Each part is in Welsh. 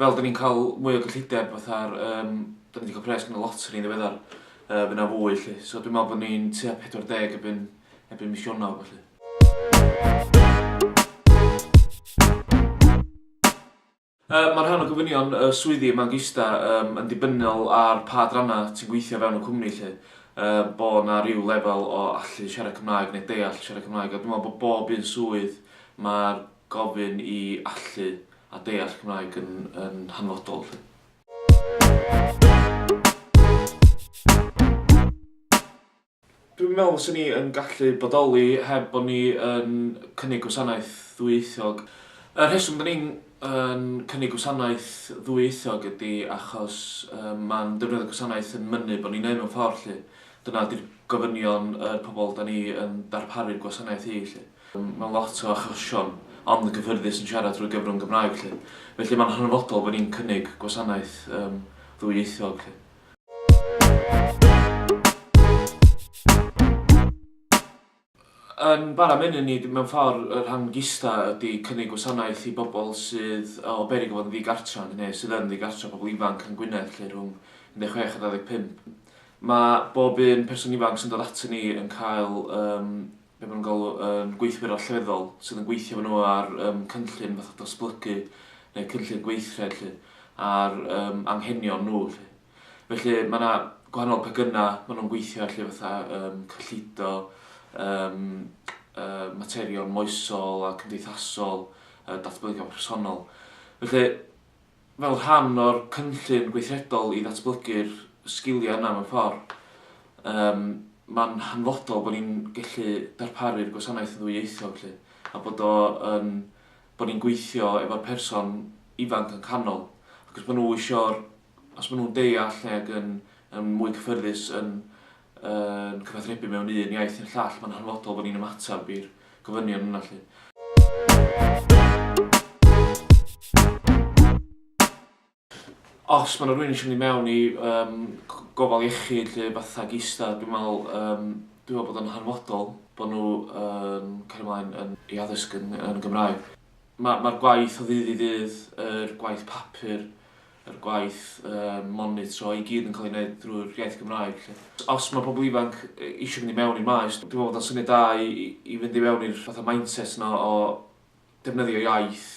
fel 'da ni'n cael mwy o gyllideb fatha'r um, 'da ni wedi cael pres yn y loteri yn ddiweddar, uh, fyna fwy lle. So dwi'n meddwl bod ni'n tua 40 ebyn, ebyn mis Ionawr felly. Uh, mae rhan o gofynion uh, swyddi yma'n gista um, yn dibynnol ar pa dranna ti'n gweithio fewn y cwmni lle. Uh, bo na rhyw lefel o allu siarad Cymraeg neu deall siarad Cymraeg. A dwi'n meddwl bod bob un swydd mae'r gofyn i allu a deall Cymraeg yn yn hanfodol 'lly. Dwi'n meddwl fysen ni yn gallu bodoli heb bod ni yn cynnig gwasanaeth ddwyieithog. Y rheswm 'da ni'n yn cynnig gwasanaeth ddwyieithog ydi achos yym ma'n defnyddio'r gwasanaeth yn mynnu bod ni'n neud mewn ffordd 'lly. Dyna 'di'r gofynion yr pobl 'da ni yn darparu'r gwasanaeth i 'lly. Mae lot o achosion ond yn gyffyrddus yn siarad drwy gyfrwng Gymraeg felly. Felly mae'n hanfodol bod ni'n cynnig gwasanaeth yym ddwyieithog felly. Yn bara menyn ni, mewn ffor', y rhan gista' ydi cynnig gwasanaeth i bobl sydd o beryg o fod yn ddigartref neu sydd yn ddigartref, pobl ifanc yn Gwynedd felly rhwng 16 a 25. Mae bob un person ifanc sy'n dod atyn ni yn cael yym be maen nhw'n galw yn gweithwyr allweddol sydd yn gweithio efo nhw ar um, cynllun fath o dosblygu neu cynllun gweithred lly, ar um, anghenion nhw. Lly. Felly mae yna gwahanol pegynau maen nhw'n gweithio allu fatha um, cyllido, um, uh, materion moesol a cymdeithasol, uh, datblygion personol. Felly fel rhan o'r cynllun gweithredol i ddatblygu'r sgiliau yna mewn ffordd, yym, mae'n hanfodol bod ni'n gallu darparu'r gwasanaeth yn ddwyieithog 'lly, a bod o yn... bod ni'n gweithio efo'r person ifanc yn canol, ac os maen nhw isio'r... os maen nhw'n deall neu ac yn yn mwy cyffyrddus yn yn cyfathrebu mewn un iaith i'r llall, mae'n hanfodol bod ni'n ymateb i'r gofynion yna 'lly. Os mae 'na rywun eisiau mynd i mewn i um, gofal iechyd lle fatha gista, dwi'n meddwl, um, dwi'n meddwl bod o'n hanfodol bod nhw um, cael ymlaen yn ei addysg yn, yn Gymraeg. Mae'r ma gwaith o ddydd i ddydd, yr er gwaith papur, yr gwaith monitro i gyd yn cael ei wneud drwy'r iaith Gymraeg 'lly. Os mae pobl ifanc eisiau mynd i mewn i'r maes, dwi'n meddwl bod o'n syniad da i fynd i fewn i'r fatha mindset 'na o defnyddio iaith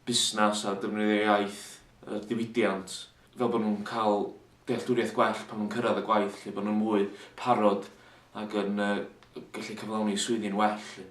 busnes a defnyddio iaith y diwydiant fel bod nhw'n cael dealltwriaeth gwell pan nhw'n cyrraedd y gwaith 'lly, bod nhw'n fwy parod ac yn yy gallu cyflawni eu swyddi'n well 'lly.